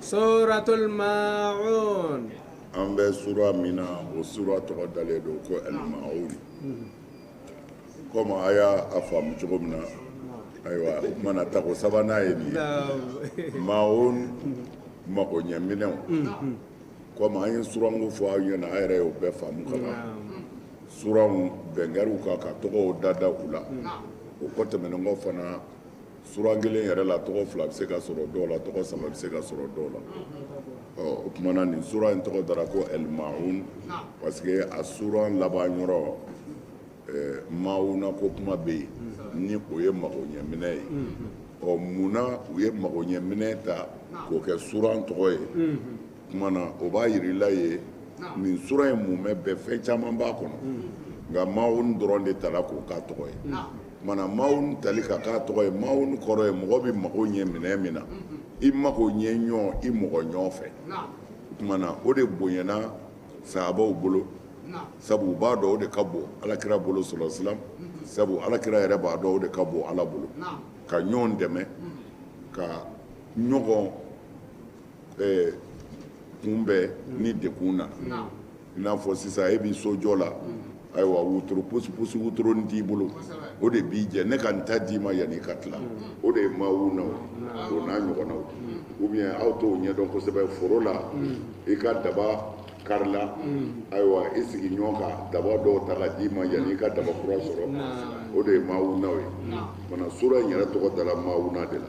suratul maun an bɛ sura min na o sura tɔgɔ dalen don ko alimaun komi a y'a faamu cogo min na ayiwa mana tako sabanan ye nin ye maun mago ɲɛminɛw komi an ye suranko fɔ aw ɲɛna a yɛrɛ y'o bɛɛ faamu ka ban suranw bɛnkɛriw kan ka tɔgɔw dada u la o ko tɛmɛnen kɔ fana suran kelen yɛrɛ la tɔgɔ fila bɛ se ka sɔrɔ dɔw la tɔgɔ saba bɛ se ka sɔrɔ dɔw la o kumana nin sura in tɔgɔ dara ko ɛlimaun parce que a suran laban yɔrɔ mauna ko kuma bɛ yen ni o ye mago ɲɛminɛ ye ɔ munna u ye mago ɲɛminɛ ta k'o kɛ suran tɔgɔ ye kuma na o b'a yir'i la ye nin sura in mumɛ bɛɛ fɛn caman b'a kɔnɔ nka maun dɔrɔn de tala k'o k'a tɔgɔ ye Mana maun tali ka k'a tɔgɔ ye maun kɔrɔ ye mɔgɔ bɛ mago ɲɛ minɛn min na i mago ɲɛ ɲɔgɔn i mɔgɔ ɲɔgɔn fɛ kumana o de bonyana sahabaw bolo sabu u b'a dɔn o de ka bon alakira bolo sallallahu alaihi wasallam sabu alakira yɛrɛ b'a dɔn o de ka bon ala bolo ka ɲɔgɔn dɛmɛ ka ɲɔgɔn kunbɛn ni degun na i n'a fɔ sisan e b'i sojɔ la ayiwa wotoro pusipusi wotoronnin t'i bolo o de b'i jɛ ne ka n ta d'i ma yanni i ka tila o de ye maawuna o n'a ɲɔgɔnnaw ou bien aw t'o ɲɛdɔn kosɛbɛ foro la i ka daba karila ayiwa i sigiɲɔgɔn ka daba dɔw ta ka d'i ma yanni i ka daba kura sɔrɔ o de ye maawunaw ye mana sura in yɛrɛ tɔgɔ dala maawuna de la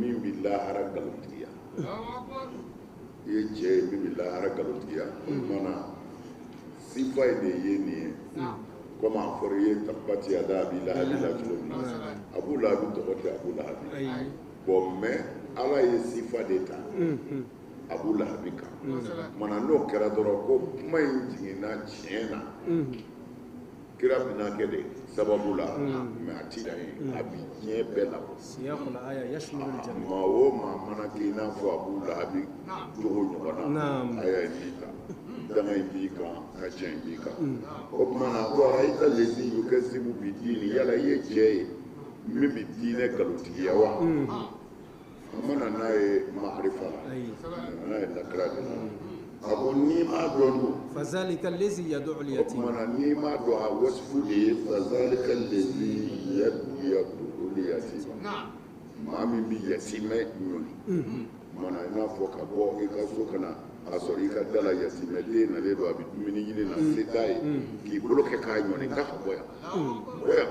min bɛ lahara nkalontigiya i ye cɛ ye min bɛ lahara nkalontigiya o mana sifa in de ye nin ye komi a fɔra i ye tabati yada abi lahabi la cogo min na abu lahabi tɔgɔ tɛ abu lahabi bon mais ala ye sifa de ta abu lahabi kan mana n'o kɛra dɔrɔn ko kuma in jiginna tiɲɛ na kira bɛnaakɛ de sababu la mais a ti dan yen a bi diɲɛ bɛɛ labɔ maa o maa mana kɛ i n'a fɔ abu lahabi jogo ɲɔgɔn na aya in b'i ta danga in b'i kan ka cɛ in b'i kan o tuma na ko arayita lezi yukazibu bi diini yala i ye cɛ ye min bɛ diinɛ nkalontigiya wa mana n'a ye maarifa la n'a ye lakira de la a ko n'i m'a dɔn dun fazalika lezi yadu uliyatima kumana n'i m'a dɔn a wasifu de ye fazalika lezi yadu yadu uliyatima maa min bɛ yatimɛ ɲɔni kumana i n'a fɔ ka bɔ i ka so ka na a sɔrɔ i ka da la yatimɛ den nalen don a bɛ dumuni ɲini na se t'a ye k'i bolo kɛ k'a ɲɔni k'a ka bɔ yan bɔ yan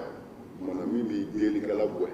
kumana min bi delikɛla gɛn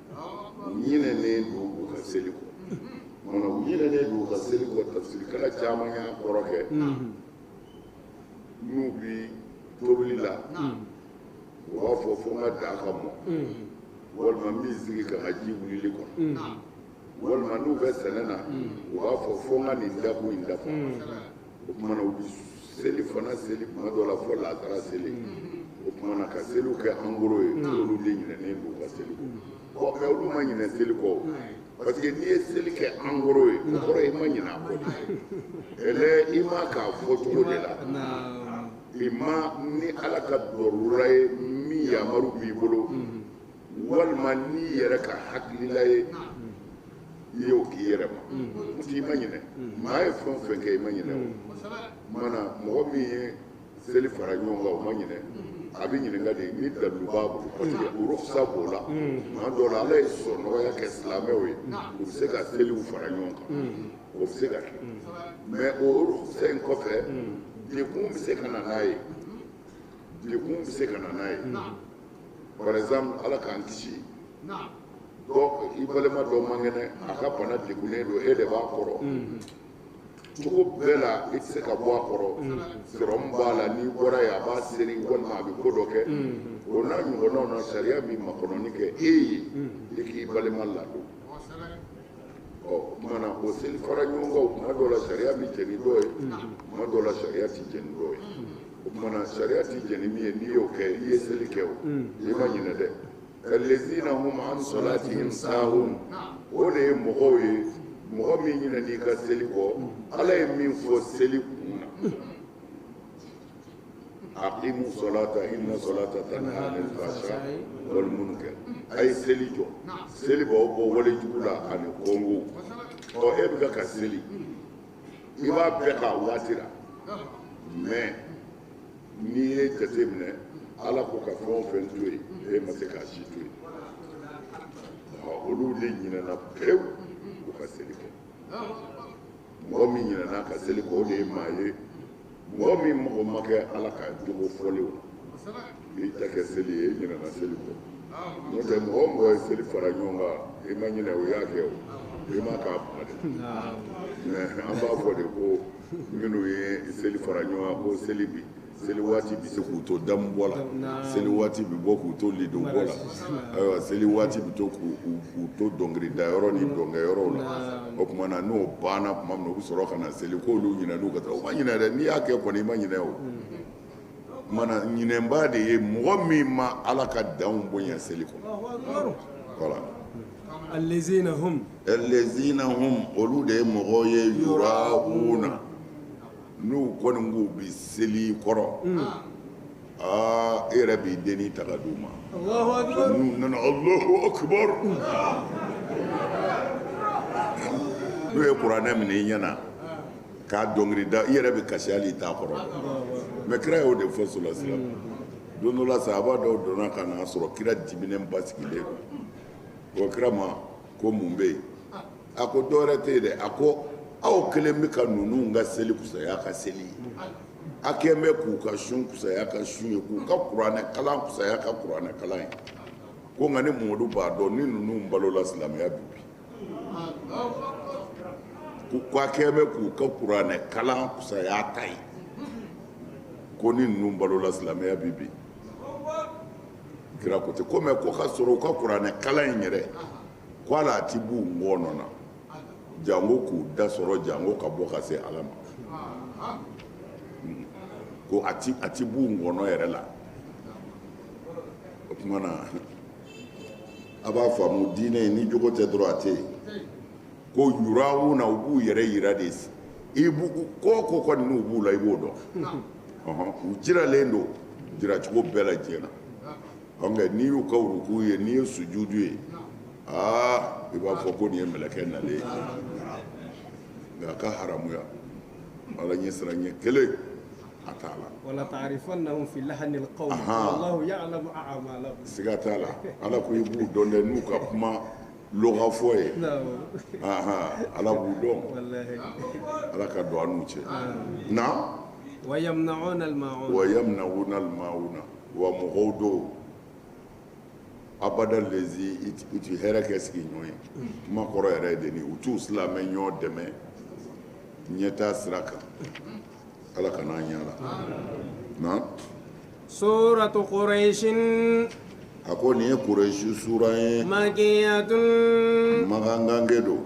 ɲinɛnen don u ka seli kɔ mana u ɲinɛnen don u ka seli kɔ tafsirikɛla caman y'a kɔrɔ kɛ n'u bi tobili la u b'a fɔ fo n ka daa ka mɔ walima n bɛ n sigi ka n ka ji wulili kɔnɔ walima n'u bɛ sɛnɛ na u b'a fɔ fo n ka nin dakun in dafa o kumana u bɛ seli fana seli kuma dɔ la fo laazara seli o kumana ka seliw kɛ en gros ye olu de ɲinɛnen don u ka seli kɔ bon mais olu ma ɲinɛ seli kɔ parce que n'i ye seli kɛ en gros ye o kɔrɔ i ma ɲinɛ a kɔ dɛ ɛlɛ i m'a k'a fɔ cogo de la imma ni ala ka dɔrura ye min yamaru b'i bolo walima n'i yɛrɛ ka hakilila ye i y'o k'i yɛrɛ ma n'o tɛ i ma ɲinɛ maa ye fɛn o fɛn kɛ i ma ɲinɛ o mana mɔgɔ min ye seli fara ɲɔgɔn kan o ma ɲinɛ a bɛ ɲininka de ni dalilu b'a bolo parce que urukusa b'o la tuma dɔw la ala ye sɔnɔgɔya kɛ silamɛw ye u bɛ se ka seliw fara ɲɔgɔn kan o bɛ se ka kɛ mais o urukusa in kɔfɛ degun bɛ se ka na n'a ye degun bɛ se ka na n'a ye par exemple ala k'an kisi i balima dɔ man kɛnɛ a ka bana degunnen don e de b'a kɔrɔ cogo bɛɛ la i tɛ se ka bɔ a kɔrɔ sɔrɔmu b'a la n'i bɔra yen a b'a seri walima a bɛ ko dɔ kɛ o n'a ɲɔgɔnnaw na sariya bɛ makɔnɔni kɛ e ye i k'i balima ladon o kumana o seli fara ɲɔgɔn kan o kuma dɔ la sariya bɛ jɛ ni dɔ ye kuma dɔ la sariya tɛ jɛ ni dɔ ye o kumana sariya tɛ jɛ ni min ye n'i y'o kɛ i ye seli kɛ o i ma ɲinɛ dɛ k'alezina hum an solatihim sahun o de ye mɔgɔw ye mɔgɔ min ɲinɛn'i ka seli kɔ ala ye min fɔ seli kun na aqimu salata inna salata tanha anil fahsha wal munkar a ye seli jɔ seli b'aw bɔ wale jugu la ani kɔnko ɔ e bɛ ka ka seli i b'a bɛɛ k'a waati la mais n'i ye jate minɛ ala ko ka fɛn o fɛn to yen e ma se k'a si to yen ɔ olu de ɲinɛna pewu u ka seli kɔ mɔgɔ min ɲinɛn'a ka seli kɔ o de ye maa ye mɔgɔ min mago ma kɛ ala ka jogo fɔlenw na i ta kɛ seli ye i ɲinɛna seli kɔ n'o tɛ mɔgɔ o mɔgɔ ye seli fara ɲɔgɔn kan i ma ɲinɛ o y'a kɛ o i m'a k'a kuma dɛ mais an b'a fɔ de ko minnu ye seli fara ɲɔgɔn kan ko seli bi seli waati bɛ se k'u to damu bɔ la seli waati bɛ bɔ k'u to lidon bɔ la ayiwa seli waati bɛ to k'u to dɔnkilidayɔrɔ ni dɔnkɛyɔrɔw la o tuma na n'o banna tuma min u bɛ sɔrɔ ka na seli k'olu ɲinɛ n'u ka taa o ma ɲinɛ dɛ n'i y'a kɛ kɔni i ma ɲinɛ o mana ɲinɛbaa de ye mɔgɔ min ma ala ka danw bonya seli kɔnɔ voilà alezina hum alezina hum olu de ye mɔgɔw ye yura'una N'u kɔni k'u bɛ seli i kɔrɔ, un, aa e yɛrɛ b'i dennin ta ka d'u ma, Alahu akibaru, n'u nana Alahu akibaru, n'u ye kuranɛ minɛ i ɲɛna k'a dɔnkili da i yɛrɛ bɛ kasi hali i t'a kɔrɔ dɔn mais kira y'o de fɔ solasilam don dɔ la sahaba dɔw donna ka na sɔrɔ kira diminenba sigilen don o kira ma ko mun bɛ yen a ko dɔwɛrɛ tɛ yen dɛ a ko aw kɛlen bɛ ka ninnu ka seli kusaya ka seli ye a kɛlen bɛ k'u ka sun kusaya ka sun ye k'u ka kuranɛ kalan kusaya ka kuranɛ kalan ye ko nka ne mamadu b'a dɔn ni ninnu balola silamɛya bi bin ko k'a kɛlen bɛ k'u ka kuranɛ kalan kusaya ta ye ko ni ninnu balola silamɛya bi bin kira ko ten ko mɛ ko ka sɔrɔ u ka kuranɛ kalan in yɛrɛ ko ala a ti b'u ngɔɔnɔ na jango k'u da sɔrɔ jango ka bɔ ka se ala ma ko a ti a ti b'u ngɔɔnɔ yɛrɛ la o tuma na a b'a faamu diinɛ ni jogo tɛ dɔrɔn a tɛ yen ko yura'una u b'u yɛrɛ yira de i b'u ko ko kɔni n'u b'u la i b'o dɔn u jiralen don jiracogo bɛɛ la diɲɛ na Ɔkɛ n'i y'u ka woro'u ye n'i ye sujudu ye aa i b'a fɔ ko nin ye mkɛ na ye nka a ka haya ala ɲɛ siran ɲɛ kelen a t'a la siga t'a la ala ko i b'u dɔn dɛ n'u ka kuma fɔ ye ala b'u dɔn ala ka don an n'u cɛ na wa wa na wa mɔgɔw don abada lezi u ti hɛrɛ kɛ sigiɲɔgɔn ye kuma kɔrɔ yɛrɛ ye de ni u t'u silamɛɲɔgɔn dɛmɛ ɲɛtaa sira kan ala kana an ɲa la na suratu quraishin a ko nin ye quraishi sura ye makiyatun magangange don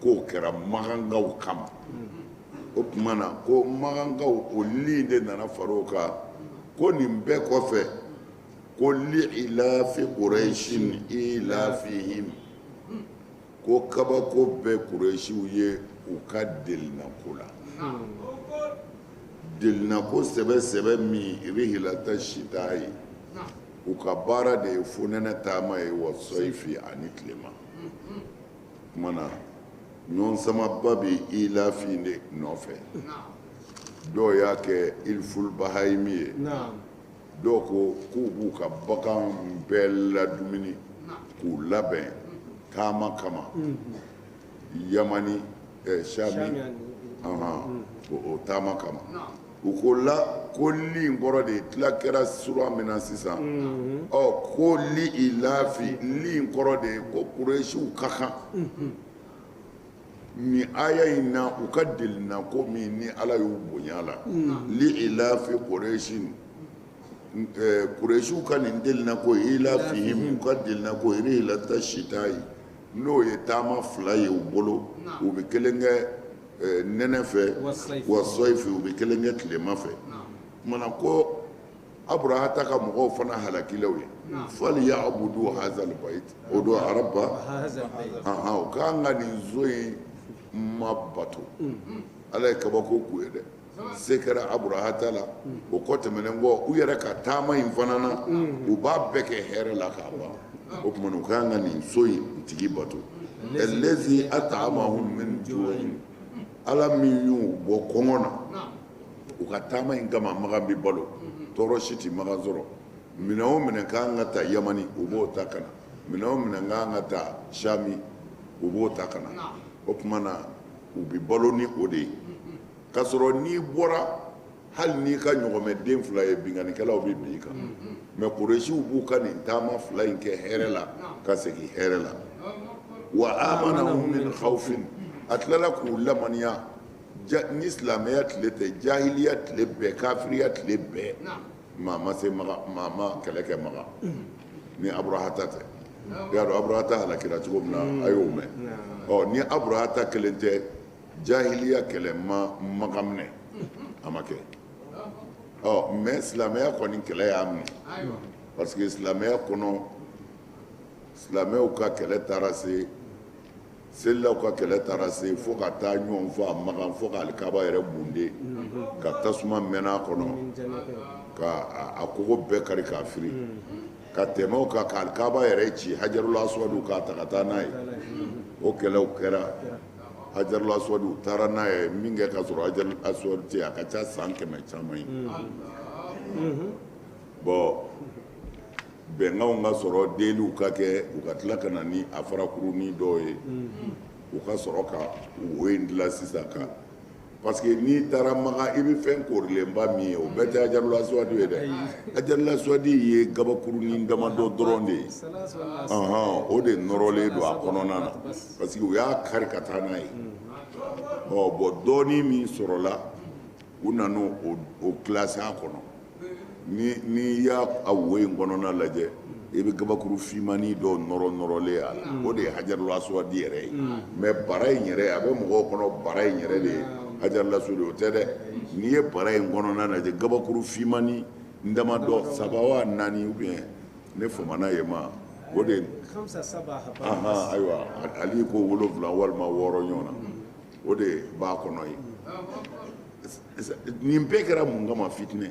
k'o kɛra magankaw kama o tuma na ko magankaw o li de nana far'o kan ko nin bɛɛ kɔfɛ ko li'ilafi quraishin ilafihim ko kabako bɛ quraishiw ye u ka delinako la delinako sɛbɛ sɛbɛ min rihilata shitayi u ka baara de ye fonɛnɛ taama ye wa sɔyifi ani tilema kuma na ɲɔgɔn samaba bɛ ilafi in de nɔfɛ dɔw y'a kɛ ilful bahayimi ye dɔw ko k'u b'u ka bagan bɛɛ ladumuni k'u labɛn taama kama yamani eh, sami o taama kama u ko la ko li in kɔrɔ de ye tila kɛra sura min na sisan ɔ ko li ilafi li in kɔrɔ de ye ko kuresiw ka kan ni aya in na u ka delinako min ni ala y'u bonya la li ilafi kuresi kuresiw ka nin delinako ilafihim u ka delinako rihilata sitayi n'o ye taama fila ye u bolo u bɛ kelen kɛ nɛnɛ fɛ wa sɔyifi u bɛ kelen kɛ tilema fɛ kumana ko aburahata ka mɔgɔw fana halakila u ye faliya'abudu hazal bayit o don araba ahan u ka kan ka nin so in ma bato ala ye kabako k'u ye dɛ se kɛra aburahata la o kɔ tɛmɛnen kɔ u yɛrɛ ka taama in fana na u b'a bɛɛ kɛ hɛrɛ la k'a ban o tuma na u ka kan ka nin so in tigi bato alɛzi at'amahum min ju'in ala min y'u bɔ kɔngɔ na u ka taama in kama makan bɛ balo tɔɔrɔ si tɛ makan sɔrɔ minɛn o minɛn ka kan ka ta yamani u b'o ta ka na minɛn o minɛn ka kan ka ta sami u b'o ta ka na o tuma na u bɛ balo ni o de ye k'a sɔrɔ n'i bɔra hali n'i ka ɲɔgɔmɛden fila ye binkannikɛlaw bɛ bin i kan mɛ kuresiw b'u ka nin taama fila in kɛ hɛrɛ la ka segin hɛrɛ la wa amanahum min khawfin a tilala k'u lamaniya nin silamɛya tile tɛ jahiliya tile bɛɛ kafiriya tile bɛɛ maa ma se maga maa ma kɛlɛ kɛ maga ni aburahata tɛ i y'a dɔn aburahata halakira cogo min na a y'o mɛn ɔ ni aburahata kelen tɛ jahiliya kɛlɛ ma maga minɛ a ma kɛ ɔ mɛ silamɛya kɔni kɛlɛ y'a minɛ parce que silamɛya kɔnɔ silamɛw ka kɛlɛ taara se selilaw ka kɛlɛ taara se fo ka taa ɲɔgɔn faga makan fo ka alikaba yɛrɛ bunde ka tasuma mɛnɛ a kɔnɔ ka a kogo bɛɛ kari k'a firi ka tɛmɛ o kan ka alikaba yɛrɛ ci hajarul aswadu k'a ta ka taa n'a ye o kɛlɛw kɛra hajarul aswadu u taara n'a ye min kɛ ka sɔrɔ hajarul aswadu tɛ a ka ca san kɛmɛ caman ye bɔn bɛnkanw ka sɔrɔ deliw ka kɛ u ka tila ka na ni a farakuruni dɔw ye u ka sɔrɔ ka wo in dilan sisan kan parce que n'i taara makan i bɛ fɛn korilenba min ye o bɛɛ tɛ hajarul aswadu ye dɛ hajarul aswadu ye gabakurunin damadɔ dɔrɔn de ye ɔhɔn o de nɔrɔlen don a kɔnɔna na parce que u y'a kari ka taa n'a ye ɔ bɔn dɔɔnin min sɔrɔla u nana o kilasi a kɔnɔ n'i y'a a wo in kɔnɔna lajɛ i bɛ gabakuru fimanin dɔw nɔrɔnɔrɔlen ye a la o de ye hajarul aswadu yɛrɛ ye mais bara in yɛrɛ a bɛ mɔgɔw kɔnɔ bara in yɛrɛ de ye hajarul aswadu o tɛ dɛ n'i ye bara in kɔnɔna lajɛ gabakuru fimanin damadɔ saba wa naani u bɛ yen ne famana yen ma o de ayiwa ali ko wolowula walima wɔɔrɔ ɲɔgɔn na o de b'a kɔnɔ ye nin bɛɛ kɛra mun kama fitinɛ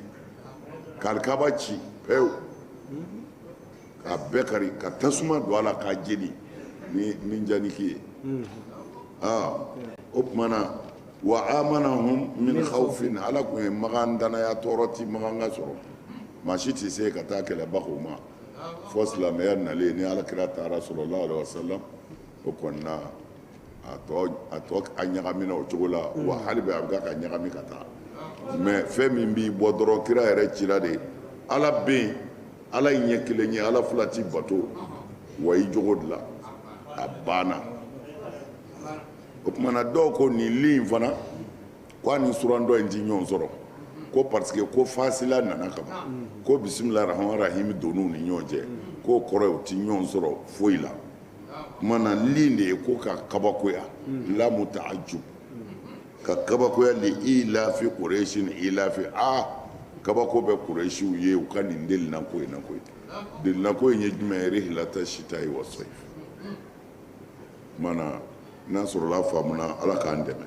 ka alikaba ci pewu ka bɛɛ kari ka tasuma don a la k'a jeni ni manjaniki ye o tumana wa amanahum min khawfin ala tun ye makan danaya tɔɔrɔ ti makan ka sɔrɔ maa si tɛ se ka taa kɛlɛba k'o ma fo silamɛya nalen ni alakira taara sallallahu alaihi wasallam o kɔnɔna a tɔ a tɔ a ɲagamina o cogo la wa hali bi a bɛ ka ɲagami ka taa mais fɛn min b'i bɔ dɔrɔn kira yɛrɛ cira de ala bɛ yen ala ye ɲɛ kelen ye ala fila ti bato wa i jogo de la a banna o tumana dɔw ko nin li in fana ko a ni surandɔ in ti ɲɔgɔn sɔrɔ ko parce que ko fasila nana ka ban ko bisimilahi rahmani rahim donn'u ni ɲɔgɔn cɛ k'o kɔrɔ ye u ti ɲɔgɔn sɔrɔ foyi la na li de ye ko ka kabakoya lamu ta'ajjub ka kabakoya li ilafi quraishin ilafi aa kabako bɛ quraishiw ye u ka nin delinako in na koyi delinako in ye jumɛn ye rihilata shita'i wa sayf n'a sɔrɔla faamuna ala k'an dɛmɛ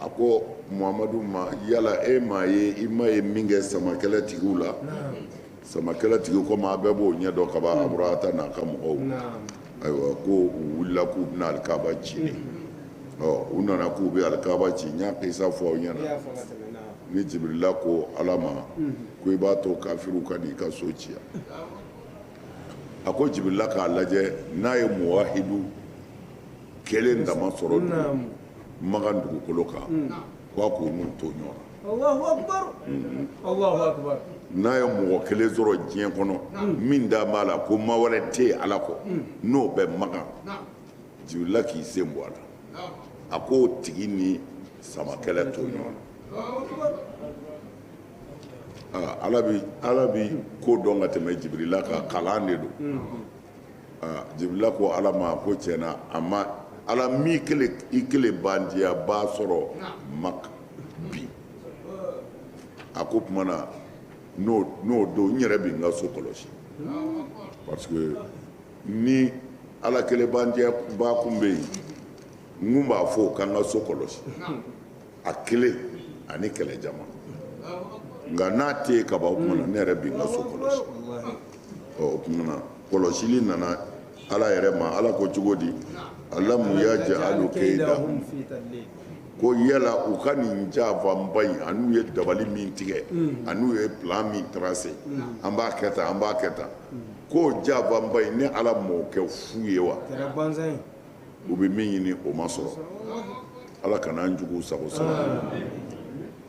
a ko muhamadu ma yala e m'a ye i ma ye min kɛ samakɛlɛ tigiw la samakɛlɛ tigi ko maa bɛɛ b'o ɲɛ dɔn kaban aburahata n'a ka mɔgɔw ayiwa ko u wulila k'u bɛna alikaba ci u nana k'u bɛ alikaba ci n y'a kisa fɔ aw ɲɛna ni jibirila ko ala ma ko i b'a to kafiriw ka n'i ka so ci yan a ko jibirila k'a lajɛ n'a ye muwahidu kelen dama sɔrɔ makan dugukolo kan k'a k'u n'u to ɲɔgɔn na allahu akbar allahu akbar n'a ye mɔgɔ kelen sɔrɔ diɲɛ kɔnɔ min dalen b'a la ko ma wɛrɛ tɛ yen ala kɔ n'o bɛ makan jibirila k'i sen bɔ a la a k'o tigi ni sama kɛlɛ to ɲɔgɔn na ala bɛ ko dɔn ka tɛmɛ jibirila kan kalan de don Jibirila ko Ala ma ko tiɲɛ na a ma Ala min kelen i kelen bandiyanbaa sɔrɔ Maka bi a ko o tuma na n'o don n yɛrɛ bɛ n ka so kɔlɔsi parce que ni Ala kelen bandiyanbaa kun bɛ yen n kun b'a fɔ o ka n ka so kɔlɔsi. a kelen ani kɛlɛ jama nka n'a tɛ yen kaban o tuma na ne yɛrɛ bɛ n ka so kɔlɔsi ɔ o tuma na kɔlɔsili nana ala yɛrɛ ma ala ko cogo di alamu yaj'alu kaydahum ko yala u ka nin janfaba in an'u ye dabali min tigɛ an'u ye plan min tracé an b'a kɛ tan an b'a kɛ tan ko janfaba in ne ala m'o kɛ fu ye wa u bɛ min ɲini o ma sɔrɔ ala kana an jugu sago sɔrɔ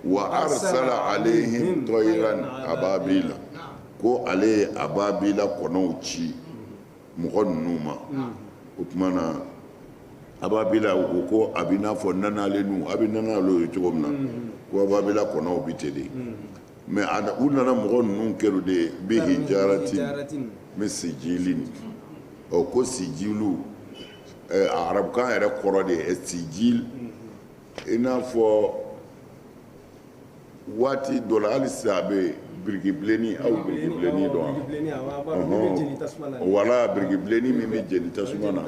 wa arsala alayhim tayran ababila ko ale ye ababila kɔnɔw ci mɔgɔ ninnu ma o tuma na ababila o ko a bɛ n'a fɔ nanalen a bɛ nanalen ye cogo min na ko ababila kɔnɔw bɛ ten de mais u nana mɔgɔ ninnu kɛrun de bi hijaratin min sijilin ɔ ko sijilu arabukan yɛrɛ kɔrɔ de ye sijil i n'a fɔ waati dɔ la hali sisan a bɛ birikibilenini aw birikibilenini dɔn wala birikibilenini min bɛ jeni tasuma na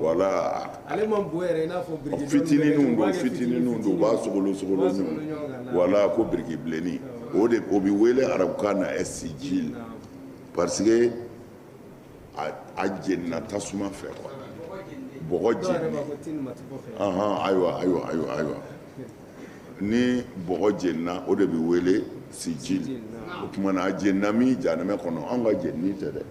wala Ale man bon yɛrɛ i n'a fɔ biriki fitininw don fitininw don u b'a sogolon sogolon ɲɔgɔn voilà ko biriki bilenni o de o bɛ wele arabukan na sijil parce que a jenina tasuma fɛ quoi bɔgɔ jeninen anhan ayiwa ayiwa ayiwa ayiwa ni bɔgɔ jenina o de bɛ wele sijil o tuma na a jenina min jahanɛmɛ kɔnɔ anw ka jenini tɛ dɛ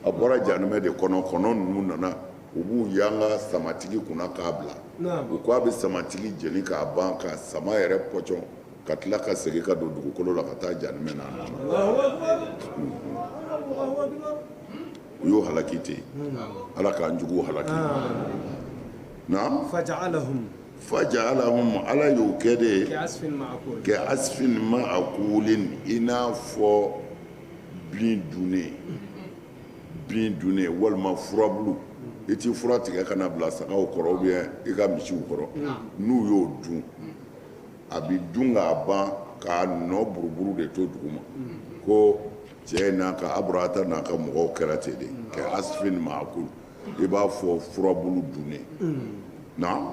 a bɔra jahanɛmɛ de kɔnɔ kɔnɔ ninnu nana u b'u yanga samatigi kunna k'a bila u ko a bɛ samatigi jeni k'a ban ka sama yɛrɛ pɔcɔn ka tila ka segin ka don dugukolo la ka taa janimɛ na u y'o halaki ten ala k'an jugu halaki faja'alahum ala y'o kɛ de kɛ asifin makulin i n'a fɔ bin dunnen bin dunnen walima furabulu i ti fura tigɛ ka na bila sagaw kɔrɔ ou bien i ka misiw kɔrɔ n'u y'o dun a bi dun k'a ban k'a nɔ buruburu de to duguma ko cɛ n'a ka aburahata n'a ka mɔgɔw kɛra ten de kɛ asifin maakul i b'a fɔ furabulu dunnen na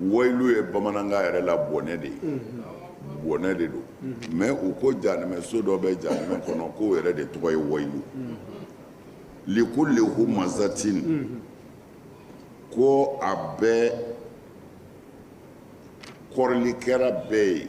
Wayilu ye bamanankan yɛrɛ la bɔnɛ de ye bɔnɛ de don mɛ u ko janɛmɛ so dɔ bɛ janɛmɛ kɔnɔ k'o yɛrɛ de tɔgɔ ye wayilu likulli humazatin ko a bɛ kɔrɔlikɛla bɛɛ ye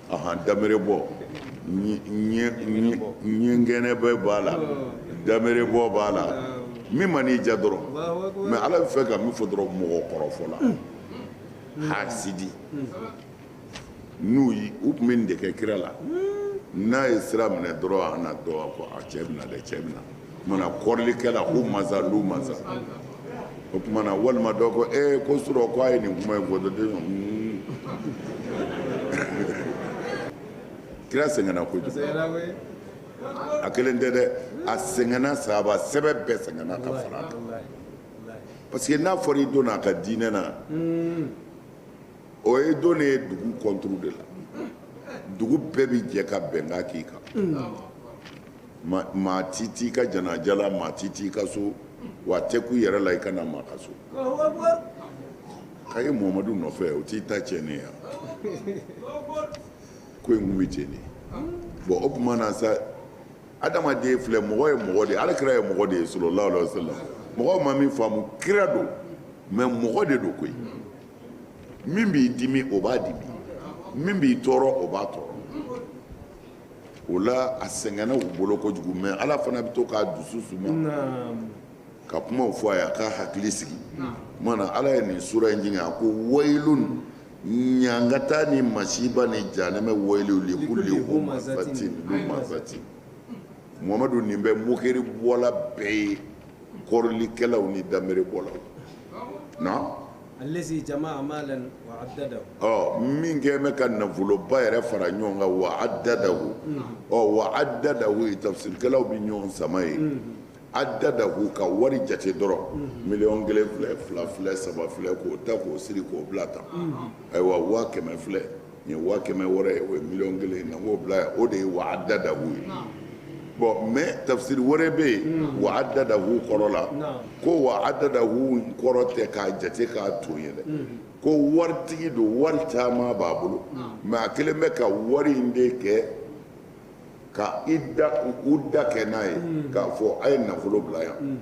Ahan damerebɔ ɲɛgɛnɛ bɛ b'a la damerebɔ b'a la min man'i ja dɔrɔn mɛ ala bɛ fɛ ka min fɔ dɔrɔn mɔgɔ kɔrɔfɔla hasidi n'u ye u tun bɛ nin de kɛ kira la n'a ye sira minɛ dɔrɔn a na dɔn a cɛ bɛ na dɛ cɛ bɛ na kɔrɔlikɛla humaza lumaza o tuma na walima dɔ ko e ko surɔ ko a ye nin kuma in fɔ dɔrɔn hmm. kira sɛgɛnna kojugu a kelen tɛ dɛ a sɛgɛnna sahaba sɛbɛ bɛɛ sɛgɛnna ka fara a kan parce que n'a fɔra i donna a ka diinɛ na hmm. o ye don ne ye dugu kɔnturu de la dugu bɛɛ bɛ jɛ ka bɛnkan k'i kan hmm. maa tɛ t'i ka janaja la maa tɛ t'i ka so wa a tɛ k'u yɛrɛ la i ka na maa ka so k'a ye muhamadu nɔfɛ o t'i ta cɛ ne yan ko in tun bɛ cɛ ne bɔn o tuma na sa adamaden filɛ mɔgɔ ye mɔgɔ de ye ala kira ye mɔgɔ de ye sallallahu alaihi wa sallam mɔgɔ ma min faamu kira don mɛ mɔgɔ de don koyi min b'i dimi o b'a dimi min b'i tɔɔrɔ o b'a tɔɔrɔ o la a sɛgɛnna u bolo kojugu mɛ ala fana bɛ to k'a dusu suma ka kuma fɔ a ye a k'a hakili sigi tuma na ala ye nin sura in jigin a ko wayilun ɲangata ni masiba ni janɛmɛ wayilu likulli humazatin lumazatin muhamadu nin bɛ mokeri bɔla bɛɛ ye kɔrɔlikɛlaw ni danbere bɔlaw na Ɔ min kɛ bɛ ka nafoloba yɛrɛ fara ɲɔgɔn kan wa addadahu ɔ wa addadahu in tafisirikɛlaw bɛ ɲɔgɔn sama yen addadahu ka wari jate dɔrɔn miliyɔn kelen filɛ fila filɛ saba filɛ k'o ta k'o siri k'o bila tan ayiwa waa kɛmɛ filɛ nin ye waa kɛmɛ wɛrɛ ye o ye miliyɔn kelen ye na k'o bila yan o de ye wa addadahu ye bon mɛ tafisiri wɛrɛ bɛ yen wa addadahu kɔrɔ la ko wa addadahu kɔrɔ tɛ k'a jate k'a to ye dɛ ko waritigi don wari caman b'a bolo mɛ a kɛlen bɛ ka wari in de kɛ ka i da udda kɛ n'a ye k'a fɔ a ye nafolo bila yan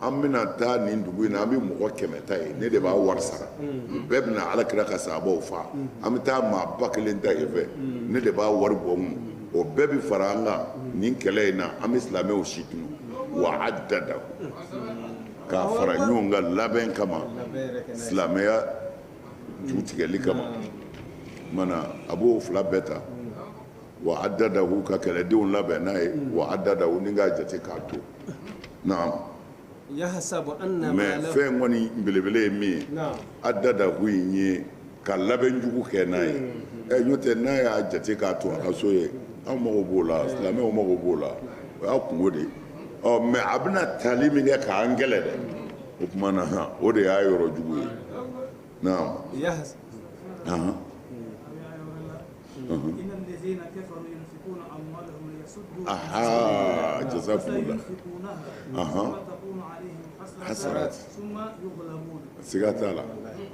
an bɛna taa nin dugu in na an bɛ mɔgɔ kɛmɛ ta yen ne de b'a wari sara mm. bɛɛ bɛna ala kira ka sahabaw faa mm. an bɛ taa maa ba kelen ta yen fɛ mm. ne de b'a wari bɔ mun o bɛɛ bɛ fara an kan nin kɛlɛ in na an bɛ silamɛw si tunu wa addadahu k'a fara ɲɔgɔn kan labɛn kama silamɛya ju tigɛli kama mana a b'o fila bɛɛ ta wa addadahu ka kɛlɛdenw labɛn n'a ye wa addadahu ni k'a jate k'a to naamu mɛ fɛn kɔni belebele ye min ye addadahu in ye ka labɛn jugu kɛ n'a ye mm-hmm. ɛ n'o tɛ n'a y'a jate k'a to a ka so yen an mago b'o la silamɛw mago b'o la o y'a kunko de ye ɔ mɛ a bɛna tali min kɛ k'an kɛlɛ dɛ o tuma na han o de y'a yɔrɔ jugu ye naamu Aa jasa hasa siga t'a la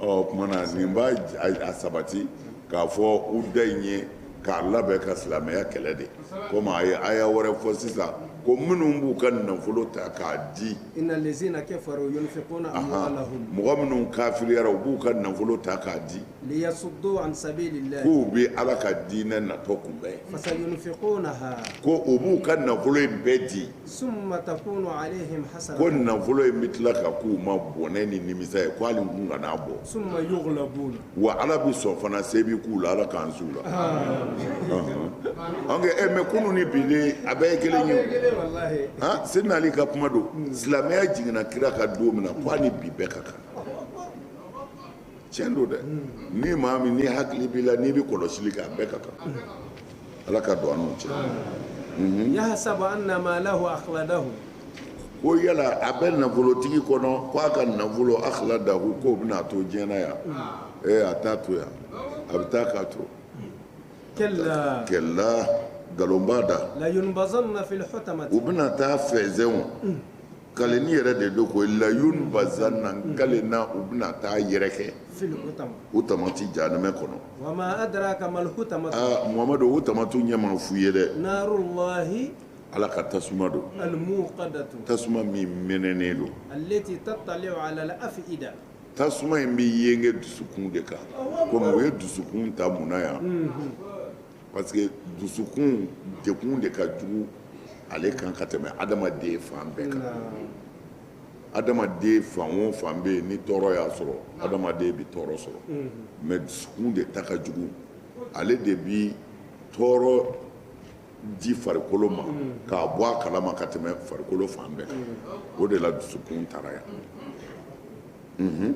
ɔ tuma na nin b'a sabati k'a fɔ udda in ye k'a labɛn ka silamɛya kɛlɛ de komi a ye aya wɛrɛ fɔ sisan ko minnu b'u ka nafolo ta k'a di mɔgɔ minnu kafiriyara u b'u ka nafolo ta k'a di k'u bɛ Ala ka diinɛ natɔ kunbɛn, ko u b'u ka nafolo in bɛɛ di, ko nafolo in bɛ tila ka k'u ma bɔnɛ ni nimisa ye ko hali u tun kan'a bɔ, wa Ala bɛ sɔn fana se bɛ k'u la Ala k'an s'u la, ɔnhɔn, ɔ mais e nk'o kunun ni bi de a bɛɛ ye kelen ye, han, Sidina Ali ka kuma don, silamɛya jiginna kira kan don min na k'a ni bi bɛɛ ka kan tiɲɛ don dɛ ni maa min ni hakili b'i la n'i bɛ kɔlɔsili kɛ a bɛɛ ka kan ala ka don an n'u cɛ mhm. yahasabu anna maalahu akhladahu ko yala a bɛ nafolotigi kɔnɔ ko a ka nafolo akhladahu k'o bɛna a to diɲɛ na yan ee a t'a to yan a bɛ taa k'a to kalla kalla nkalon b'a da u bɛna taa fɛnsɛnw Kaleni yɛrɛ de don ko layunbazanna n kalenna u bɛna taa yɛrɛkɛ hutamati janimɛ kɔnɔ mamadu hutamatu ɲɛ ma f'u ye dɛ ala ka tasuma don tasuma min mɛnɛnen don tasuma in bɛ yenge dusukun de kan kɔmi u ye dusukun ta mun na yan parce que dusukun degun de ka jugu ale kan ka tɛmɛ adamaden fan bɛɛ kan adamaden fan o fan bɛ yen ni tɔɔrɔ y'a sɔrɔ adamaden bɛ tɔɔrɔ sɔrɔ mm-hmm. mais dusukun de ta ka jugu ale de bi tɔɔrɔ di farikolo ma mm-hmm. k'a bɔ a kalama ka tɛmɛ farikolo fan bɛɛ kan mm-hmm. o de la dusukun taara yan.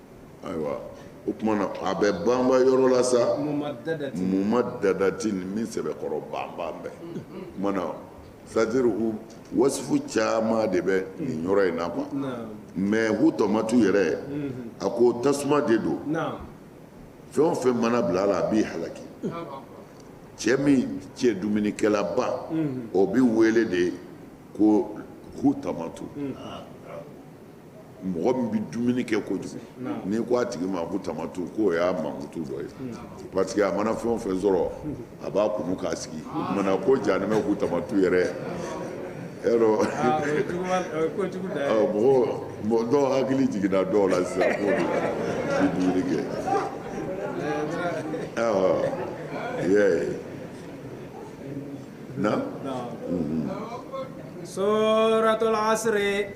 ayiwa o tuma na a bɛ banba yɔrɔ la sa mumadadatin min sɛbɛkɔrɔ banba bɛɛ o tuma na c'est-à-dire wasifu caman de bɛ nin yɔrɔ in na quoi mais hutamatu yɛrɛ a ko tasuma de don fɛn o fɛn mana bila a la a b'i halaki cɛ min cɛ dumunikɛlaba o bɛ wele de ko hutamatu mɔgɔ min bɛ dumuni kɛ kojugu n'i ko a tigi ma ko hutamatu k'o y'a mankutu dɔ ye parce que a mana fɛn o fɛn sɔrɔ a b'a kunu k'a sigi o tuma na ko janimɛ ko hutamatu yɛrɛ yɔrɔ ah, ah, mɔgɔ dɔw hakili jiginna dɔw la sisan k'o bi dumuni kɛ eh, awɔ yɛ na. Mm-hmm. suratul asiri.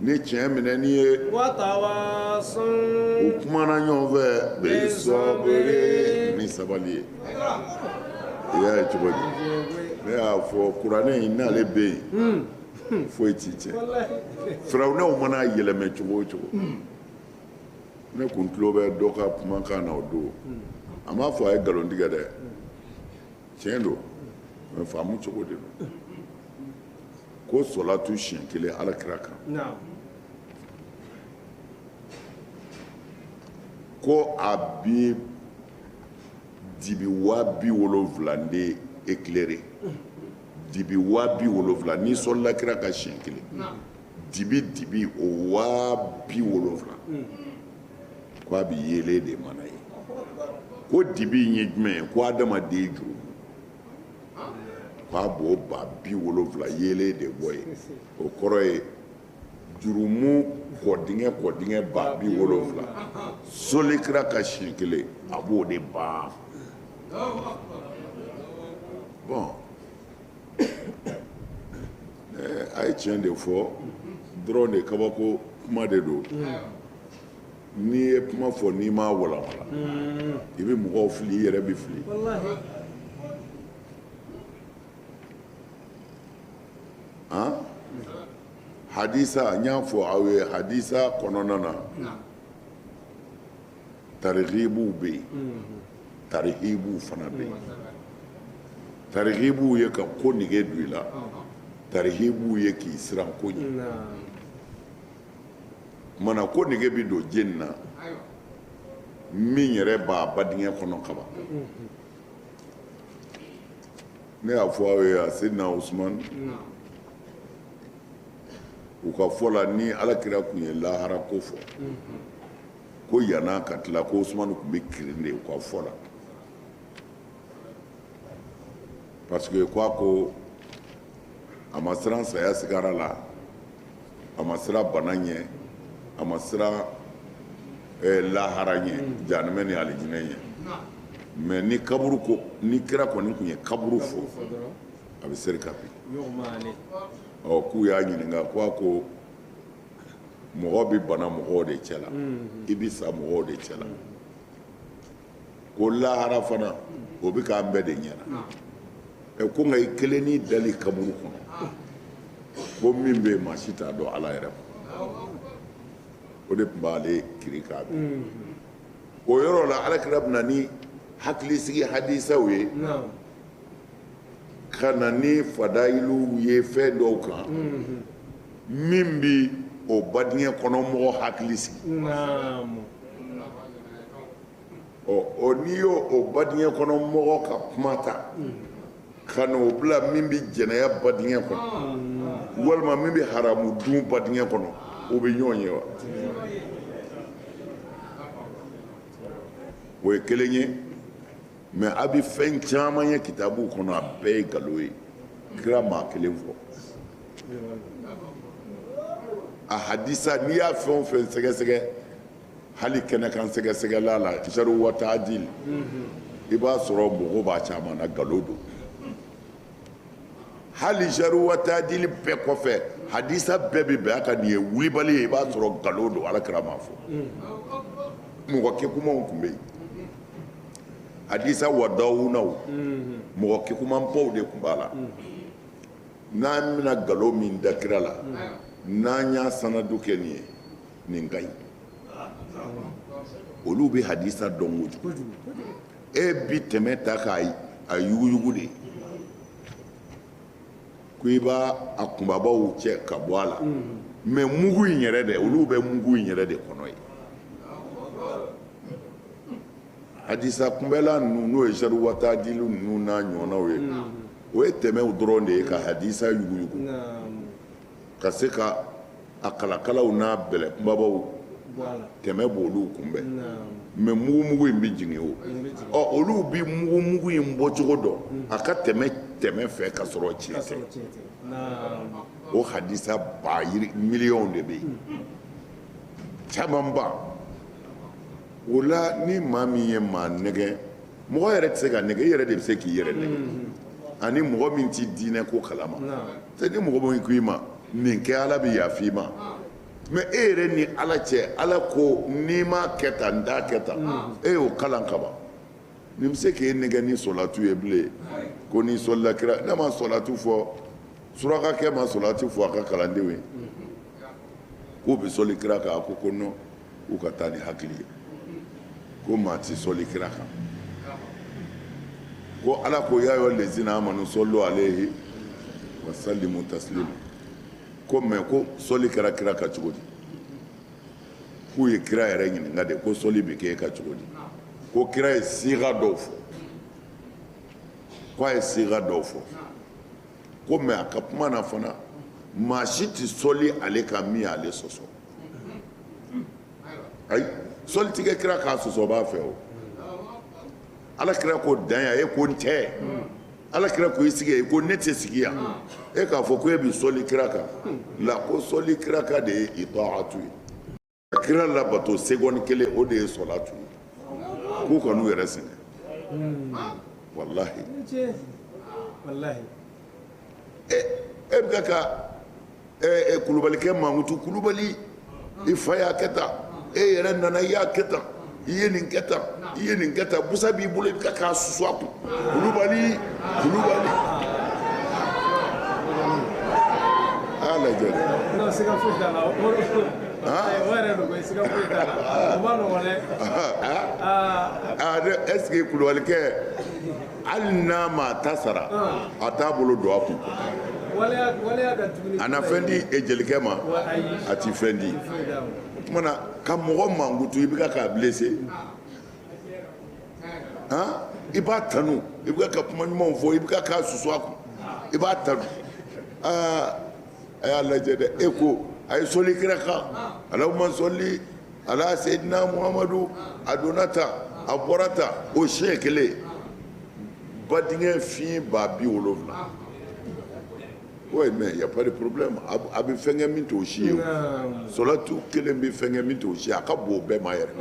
Ni tiɲɛ minɛni ye u kumana ɲɔgɔn fɛ bisɔbiri ni sabali ye i y'a ye cogo di ne y'a fɔ kuranɛ in n'ale bɛ yen foyi t'i tiɲɛ firawunɛw mana yɛlɛmɛ cogo o cogo ne kun tulo bɛ dɔ ka kumakan na o don a m'a fɔ a ye nkalon tigɛ dɛ tiɲɛ don mais faamu cogo de don ko sɔlatu siɲɛ kelen alakira kan ko a bi dibi waa bi wolonwula de éclairé dibi waa bi wolonwula n'i sɔlila kira kan siɲɛ kelen dibi dibi o waa bi wolonwula ko a bɛ yeelen de mana yen ko dibi in ye jumɛn ye ko adamaden jurumu k'a b'o ba bi wolonfila yeelen de bɔ yen o kɔrɔ ye jurumu kɔdingɛ kɔdingɛ ba bi wolonfila sɔli kira kan siɲɛ kelen a b'o de ban bɔn a ye tiɲɛ de fɔ dɔrɔn de kabako kuma de don n'i ye kuma fɔ n'i m'a walanwalan i bɛ mɔgɔw fili i yɛrɛ bɛ fili an hadisa n y'a fɔ aw ye hadisa kɔnɔna na tarihibuw bɛ yen tarihibuw fana bɛ yen tarihibuw ye ka ko nege don i la tarihibuw ye k'i siran ko ɲɛ mana ko nege bɛ don jeni na min yɛrɛ b'a badingɛ kɔnɔ kaban ne y'a fɔ aw ye a seyidina usumani u ka fɔ la ni alakira tun ye lahara ko fɔ ko yani a ka tila ko usumani tun bɛ kirin de u ka fɔ la parce que ko a ko a ma siran saya sigara la a ma siran bana ɲɛ a ma siran lahara ɲɛ jahanama ni alijinɛ ɲɛ mais ni kaburu ko ni kira kɔni tun ye kaburu fɔ a bɛ seri ka bin k'u y'a ɲininka ko a ko mɔgɔ bɛ bana mɔgɔw de cɛla mm-hmm. i bɛ sa mɔgɔw de cɛla ko lahara fana o bɛ k'an bɛɛ de ɲɛna ah. ɛ ko nka i kelen n'i dali kaburu kɔnɔ ah. ko min bɛ yen maa si t'a dɔn ala yɛrɛ ma o de tun b'ale kirin k'a bin mm-hmm. o yɔrɔ la alakira bɛ na ni hakilisigi hadisaw ye ka na ni fadayiluw ye fɛn dɔw kan min bɛ o badingɛ kɔnɔ mɔgɔ hakili sigi ɔ n'i ye o badingɛ kɔnɔ mɔgɔ ka kuma ta ka na o bila min bɛ jɛnɛya badingɛ kɔnɔ walima min bɛ haramu dun badingɛ kɔnɔ o bɛ ɲɔgɔn ye wa o ye kelen ye mais a bɛ fɛn caman ye kitabuw kɔnɔ a bɛɛ ye galo ye kira m'a kelen fɔ a hadisa n'i y'a fɛn o fɛn sɛgɛsɛgɛ hali kɛnɛkan sɛgɛsɛgɛla la jaru wataadil i b'a sɔrɔ mɔgɔw b'a caman na galo don hali jaru wataadil bɛɛ kɔfɛ hadisa bɛɛ bɛ bɛn a kan nin ye wulibali ye i b'a sɔrɔ galo don alakira m'a fɔ mɔgɔ kegunmaw tun bɛ yen hadisa wadawunaw mɔgɔ kekumanbaw de tun b'a la n'an bɛna nkalon min da kira la n'an y'a sanadu kɛ nin ye nin ka ɲi olu bɛ hadisa dɔn kojugu e bi tɛmɛ ta k'a a yuguyugu de ye ko i b'a a kunbabaw cɛ ka bɔ a la mɛ mugu in yɛrɛ dɛ olu bɛ mugu in yɛrɛ de kɔnɔ ye hadisa kunbɛla ninnu n'o ye jaru wataadilu ninnu n'a ɲɔgɔnnaw ye o ye tɛmɛw dɔrɔn de ye ka hadisa yuguyugu ka se ka a kalakalaw n'a bɛlɛ kunbabaw tɛmɛ b'olu kunbɛn mɛ mugumugu in bɛ jigin o ɔ olu bɛ mugumugu in bɔcogo dɔn a ka tɛmɛ tɛmɛ fɛ ka sɔrɔ tiɲɛ tɛ o hadisa ba miliyɔnw de bɛ yen camanba o la ni maa min ye maa nɛgɛ mɔgɔ yɛrɛ tɛ se ka nɛgɛ i yɛrɛ de bɛ se k'i yɛrɛ nɛgɛ ani mɔgɔ min tɛ diinɛ ko kalama ni mɔgɔ min ko i ma nin kɛ ala bɛ yafa i ma mɛ e yɛrɛ ni ala cɛ ala ko n'i ma kɛ tan n t'a kɛ tan e y'o kalan kaban nin bɛ se k'i nɛgɛ ni sɔlatu ye bilen ko n'i sɔlila kira ne ma sɔlatu fɔ surakakɛ ma sɔlatu fɔ a ka kalandenw ye k'u bɛ sɔli kira kan a ko nɔn u ka taa ni hakili ye ko maa tɛ sɔli kira kan ko ala ko ya ayuhal lazina amanu sɔlu alayhi wa salimu taslima ko mɛ ko sɔli kɛra kira kan cogo di k'u ye kira yɛrɛ ɲininka de ko sɔli bɛ kɛ e kan cogo di ko kira ye siga dɔw fɔ ko a ye siga dɔw fɔ ko mɛ a ka kuma na fana maa si tɛ sɔli ale kan min y'ale sɔsɔ ayi sɔli ti kɛ kira kan sɔsɔ b'a fɛ o ala kira ko dan yan e ko n tɛ ala kira ko i sigi yan e ko ne tɛ sigi yan e k'a fɔ ko e bi sɔli kira kan la ko sɔli kira kan de ye itaatu ye ka kira labato segɔni kelen o de ye sɔlatu ye k'u kan'u yɛrɛ sɛgɛn walahi walahi e bɛ ka kulubalikɛ mankutu kulubali i fa y'a kɛ tan e yɛrɛ nana i y'a kɛ tan i ye nin kɛ tan i ye nin kɛ tan busa b'i bolo i bɛ k'a susu a kun kulubali kulubali a lajɛ ɛseke kulubalikɛ hali n'a ma ta sara a t'a bolo don a kun a na fɛn di e jelikɛ ma a ti fɛn di o tuma na ka mɔgɔ mankutu i bɛ ka k'a blessé han i b'a tanu i bɛ ka kuma ɲumanw fɔ i bɛ ka k'a susu a kun i b'a tanu aa a y'a lajɛ dɛ e ko a ye sɔli kira kan alahuma sɔli ala seyidina muhamadu a donna tan a bɔra tan o siɲɛ kelen ba denkɛ fiɲɛ ba bi wolonwula oui mais y'a pas de problème a bɛ fɛn kɛ min t'o si ye o solatu kelen bɛ fɛn kɛ min t'o si ye a ka bon o bɛɛ ma yɛrɛ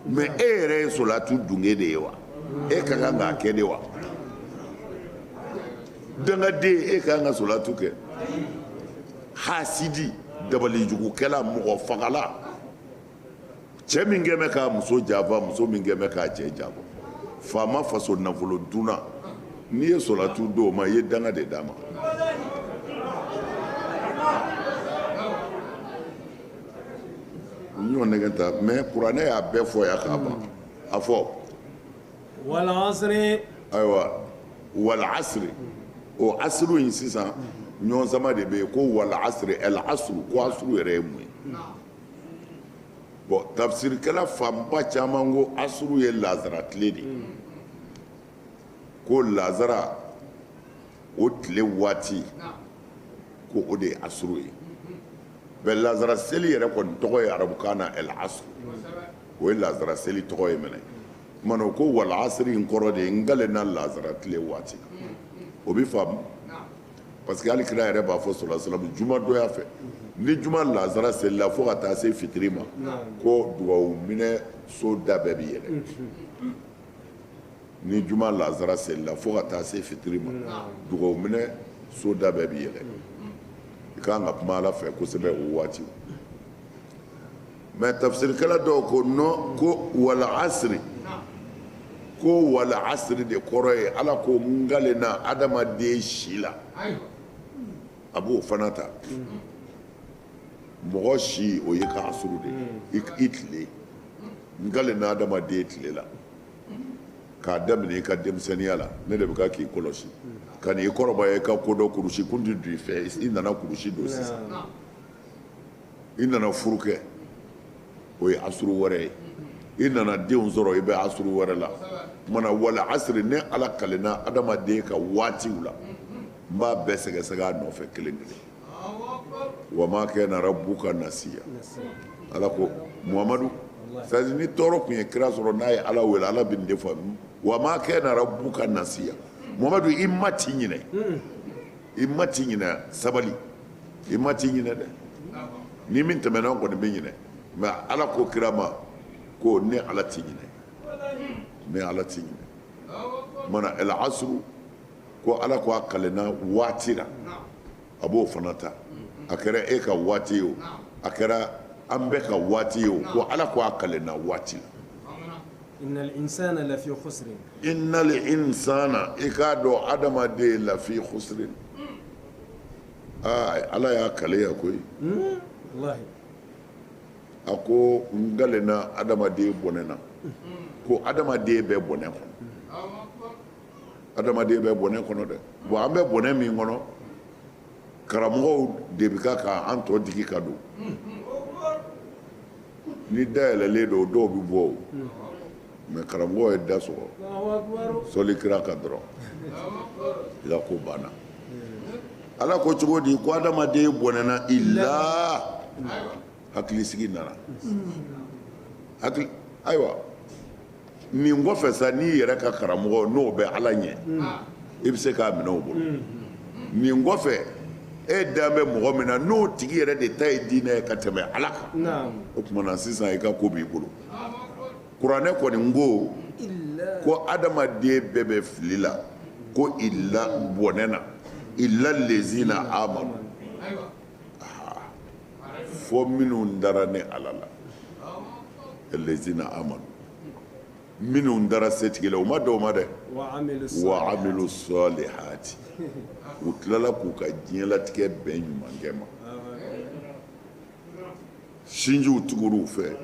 mais e yɛrɛ ye solatu dunge de ye wa e ka kan k'a kɛ de wa dangaden e ka kan ka solatu kɛ. Hasidi dabalijugukɛla mɔgɔ fagala cɛ min kɛlen bɛ k'a muso janfa muso min kɛlen bɛ k'a cɛ janfa faama faso nafolo dunna n'i ye sɔlatu d'o ma i ye danga de d'a ma n y'o nɛgɛ ta mais kuranɛ y'a bɛɛ fɔ yan k'a ban a fɔ wala ayiwa wala asiri o asuru in sisan ɲɔgɔnsama de bɛ yen ko wala asiri al asuru ko asuru yɛrɛ ye mun ye bon tafsirikɛla fanba caman ko asuru ye lazara tile de ye ko lazara o tile waati ko o de ye asuru ye mais lazara seli yɛrɛ kɔni tɔgɔ ye arabukan na al asuru o ye lazara seli tɔgɔ ye mɛnɛ tuma ko walasiri in kɔrɔ de ye n kalenna lazara tile waati o bɛ faamu parce que hali kira yɛrɛ b'a fɔ solasamu juma donya fɛ ni juma lazara selila fo ka taa se fitiri ma ko dugawu minɛ so da bɛɛ bɛ yɛlɛ ni juma lazara selila fo ka taa se fitiri ma dugawu minɛ so da bɛɛ bɛ yɛlɛ i ka kan ka kuma ala fɛ kosɛbɛ o waati mais tafisirikɛla dɔw ko non ko wala asiri ko wala asiri de kɔrɔ ye ala ko n kalenna adamaden si la a b'o fana ta mɔgɔ si o ye ka asuru de ye hmm. i tile n kalenna adamaden tile la k'a daminɛ i ka denmisɛnninya la ne de bɛ ka k'i kɔlɔsi hmm. ka n'i kɔrɔbaya i ka kodɔn kurusi kun tɛ don i fɛ i nana kurusi don sisan hmm. i nana furu kɛ o ye asuru wɛrɛ ye i nana denw sɔrɔ i bɛ asuru wɛrɛ la mana wal asiri ne ala kalenna adamaden ka waatiw la n b'a bɛɛ sɛgɛsɛgɛ a nɔfɛ kelen kelen wa ma kana rabbuka nasiya ala ko muhamadu c'est à dire ni tɔɔrɔ tun ye kira sɔrɔ n'a ye ala wele ala bɛ nin de fɔ wa ma kana rabbuka nasiya muhamadu i ma t'i ɲinɛ i ma t'i ɲinɛ sabali i ma t'i ɲinɛ dɛ ni min tɛmɛna o kɔni bɛ ɲinɛ mais ala ko kira ma ko ne ala t'i ɲinɛ ne ala t'i ɲinɛ mana el asuru ko ala ko a kalenna waati la a b'o fana ta a kɛra e ka waati ye o a kɛra an bɛɛ ka waati ye o ko ala ko a kalenna waati la innal insana lafi khusrin innal insana i k'a dɔn adamaden lafi khusrin ala y'a kale yan koyi a ko n kalenna adamaden bɔnɛna ko adamaden bɛ bɔnɛ kɔnɔ adamaden bɛ bɔnɛ kɔnɔ dɛ bon an bɛ bɔnɛ min kɔnɔ karamɔgɔw de bɛ ka ka an tɔn digi ka don ni da yɛlɛlen don dɔw bɛ bɔ mais karamɔgɔ ye da sɔgɔ sɔli kira kan dɔrɔn i ka ko banna ala ko cogo di ko adamaden bɔnɛna illa hakilisigi nana hakili ayiwa nin kɔfɛ sa n'i yɛrɛ ka karamɔgɔ n'o bɛ ala ɲɛ i bɛ se k'a minɛ o bolo nin kɔfɛ e dan bɛ mɔgɔ min na n'o tigi yɛrɛ de ta ye diinɛ ye ka tɛmɛ ala kan o tuma na sisan i ka ko b'i bolo kuranɛ kɔni n ko ko adamaden bɛɛ bɛ fili la ko i la bɔnɛ na illa lezina amanu fo minnu dara ne ala la lezina amanu minnu dara setigi la u ma dɔw ma dɛ wa amilu salihati u tilala k'u ka diɲɛlatigɛ bɛn ɲumankɛ ma sinjiw tugur'u fɛ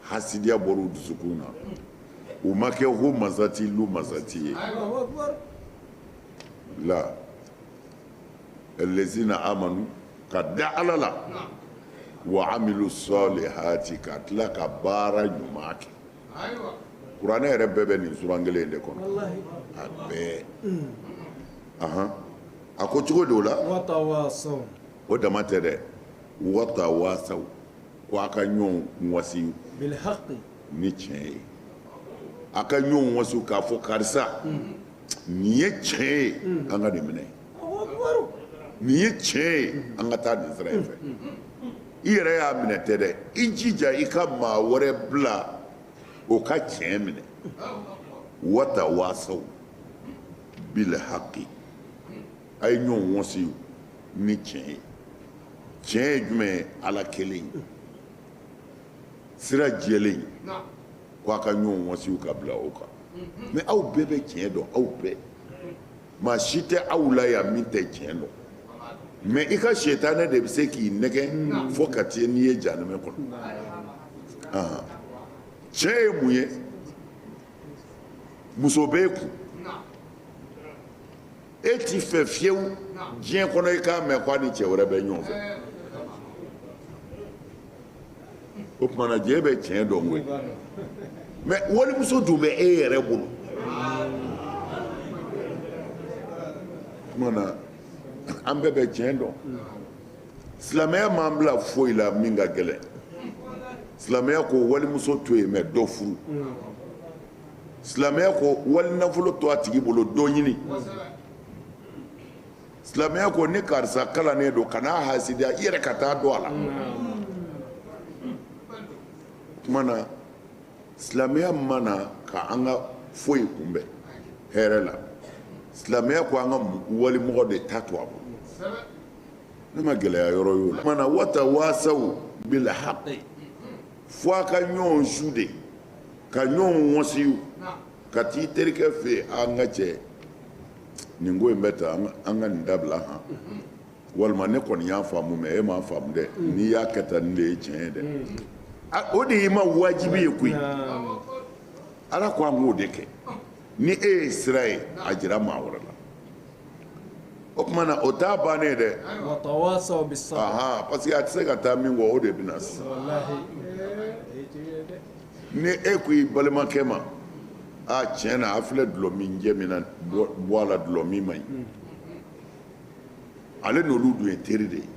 hasidiya bɔr'u dusukun na u ma kɛ humazati lumazati ye la lezina amanu ka da ala la wa amilu salihati ka tila ka baara ɲuman kɛ kuranɛ yɛrɛ bɛɛ bɛ nin suran kelen de kɔnɔ a bɛɛ a ko cogo di o la o dama tɛ dɛ watawasaw ko a ka ɲɔgɔn wasi ni tiɲɛ ye a ka ɲɔgɔn wasi k'a fɔ karisa nin ye tiɲɛ ye an k'a de minɛ Nin ye tiɲɛ ye an ka taa nin sira in fɛ i yɛrɛ y'a minɛ tɛ dɛ i jija i ka maa wɛrɛ bila o ka tiɲɛ minɛ wata waasaw bil haki a ye ɲɔgɔn wasi ni tiɲɛ ye tiɲɛ ye jumɛn ye ala kelen sira jɛlen ko a ka ɲɔgɔn wasi ka bila o kan mɛ aw bɛɛ bɛ tiɲɛ dɔn aw bɛɛ maa si tɛ aw la yan min tɛ tiɲɛ dɔn mɛ i ka sitanɛ de bɛ se k'i nɛgɛn fo ka taa n'i ye jahanama kɔnɔ tiɲɛ ye mun ye muso b'e kun e t'i fɛ fiyewu diɲɛ kɔnɔ i k'a mɛn ko a ni cɛ wɛrɛ bɛ ɲɔgɔn fɛ o tuma na diɲɛ bɛ tiɲɛ dɔn koyi mɛ walimuso dun bɛ e yɛrɛ bolo o tuma na an bɛɛ bɛ tiɲɛ dɔn silamɛya m'an bila foyi la min ka gɛlɛn silamɛya ko walimuso to yen mɛ dɔ furu silamɛya ko wali nafolo to a tigi bolo dɔ ɲini silamɛya ko ni karisa kalannen don kana hasidiya i yɛrɛ ka taa don a la kuma na silamɛya mana ka an ka foyi kunbɛn hɛrɛ la silamɛya ko an ka walimɔgɔ de ta to a bolo ne ma gɛlɛya yɔrɔ y'o la tuma na wata waasaw bil haqi fo a ka ɲɔgɔn su de ka ɲɔgɔn wasi ka t'i terikɛ fɛ an ka cɛ nin ko in bɛ tan an ka nin dabila han walima ne kɔni y'a faamu mɛ e m'a faamu dɛ n'i y'a kɛ tan nin de ye tiɲɛ ye dɛ o de y'i ma wajibi ye koyi ala ko an k'o de kɛ ni e ye sira ye a jira maa wɛrɛ la o tuma na o t'a bannen ye dɛ parce que a tɛ se ka taa min kɔ o de bɛna sisan ni e ko i balimakɛ ma a tiɲɛ na a filɛ dulɔ min jɛ min na bɔ a la dulɔ min man ɲi ale n'olu dun ye teri de ye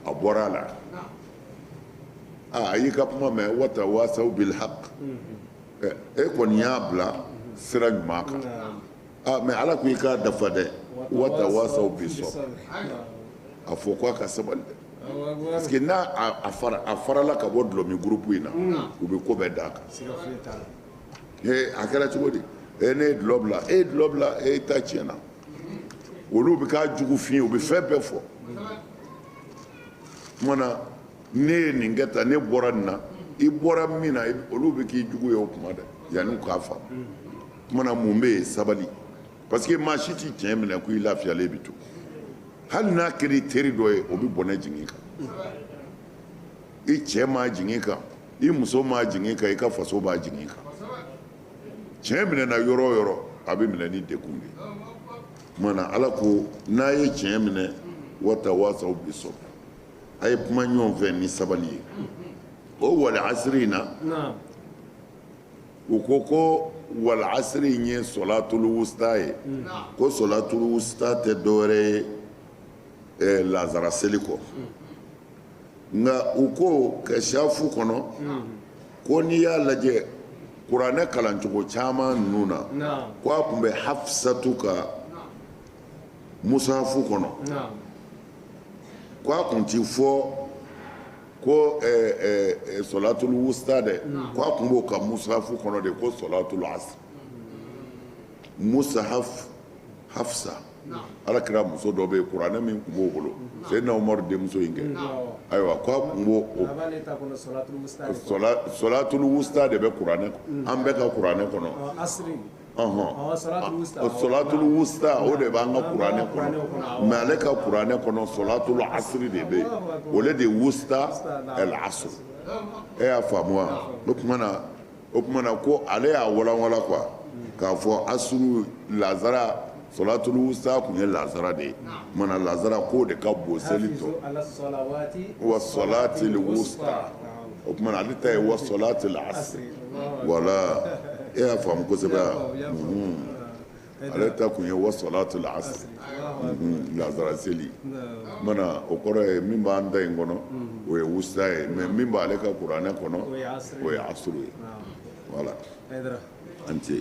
a bɔra a la a y'i ka kuma mɛn wata waasaw bil haq e kɔni y'a bila sira ɲuman kan ah, mɛ ala ko i k'a dafa dɛ wata waasaw bi sabri a fɔ ko a ka sabali dɛ Parce que n'a a farala ka bɔ dulɔmin groupe in na u bɛ ko bɛɛ da a kan a kɛra cogo di e ne ye dulɔ bila e ye dulɔ bila e ta tiɲɛna olu bɛ k'a jugu f'i ye u bɛ fɛn bɛɛ fɔ tuma na ne ye nin kɛ tan ne bɔra nin na i bɔra min na olu bɛ k'i jugu ye o kuma dɛ yanni u k'a faamu tuma na mun bɛ yen sabali parce que maa si tɛ tiɲɛ minɛ ko i lafiyalen bɛ to hali n'a kɛra i teri dɔ ye o bɛ bɔnɛ jigin i kan i cɛ m'a jigin i kan i muso m'a jigin i kan i ka faso b'a jigin i kan tiɲɛ minɛna yɔrɔ o yɔrɔ a bɛ minɛ ni degun de ye kumana ala ko n'a ye tiɲɛ minɛ watawasaw bisabri a ye kuma ɲɔgɔn fɛ ni sabali ye o wal asiri in na u ko ko wal asiri in ye solatulu wusta ye ko solatulu wusta tɛ dɔwɛrɛ ye lazara seli kɔ nka u ko kasafu kɔnɔ ko n'i y'a lajɛ kuranɛ kalancogo caman ninnu na k' a tun bɛ hafisatu ka musafu kɔnɔ k' a tun tɛ fɔ ko solatulu wusta dɛ k' a tun b'o ka musafu kɔnɔ de ko solatulu asiri musahafu hafisa ala kira muso dɔ bɛ yen kuranɛ min tun b'o bolo sedina umaru denmuso in kɛ ayiwa k' a tun b'o solatulu wusta de bɛ kuranɛ an bɛɛ ka kuranɛ kɔnɔ solatulu wusta o de b'an ka kuranɛ kɔnɔ mɛ ale ka kuranɛ kɔnɔ solatulu asiri de bɛ yen o de ye wusta el asiri e y'a faamu o kumana ko ale y'a walanwalan quoi k'a fɔ asuru lazara Solatulu wusta tun ye lasara de ye mana lasara k'o de ka bon seli tɔ wa solatili wusta o kumana ale ta ye wa solatili asiri voilà e y'a faamu kosɛbɛ ale ta tun ye wa solatili asiri lasara seli mana o kɔrɔ ye min b'an ta in kɔnɔ o ye wusta ye mɛ min b'ale ka kuranɛ kɔnɔ o ye asuru ye voilà an tɛ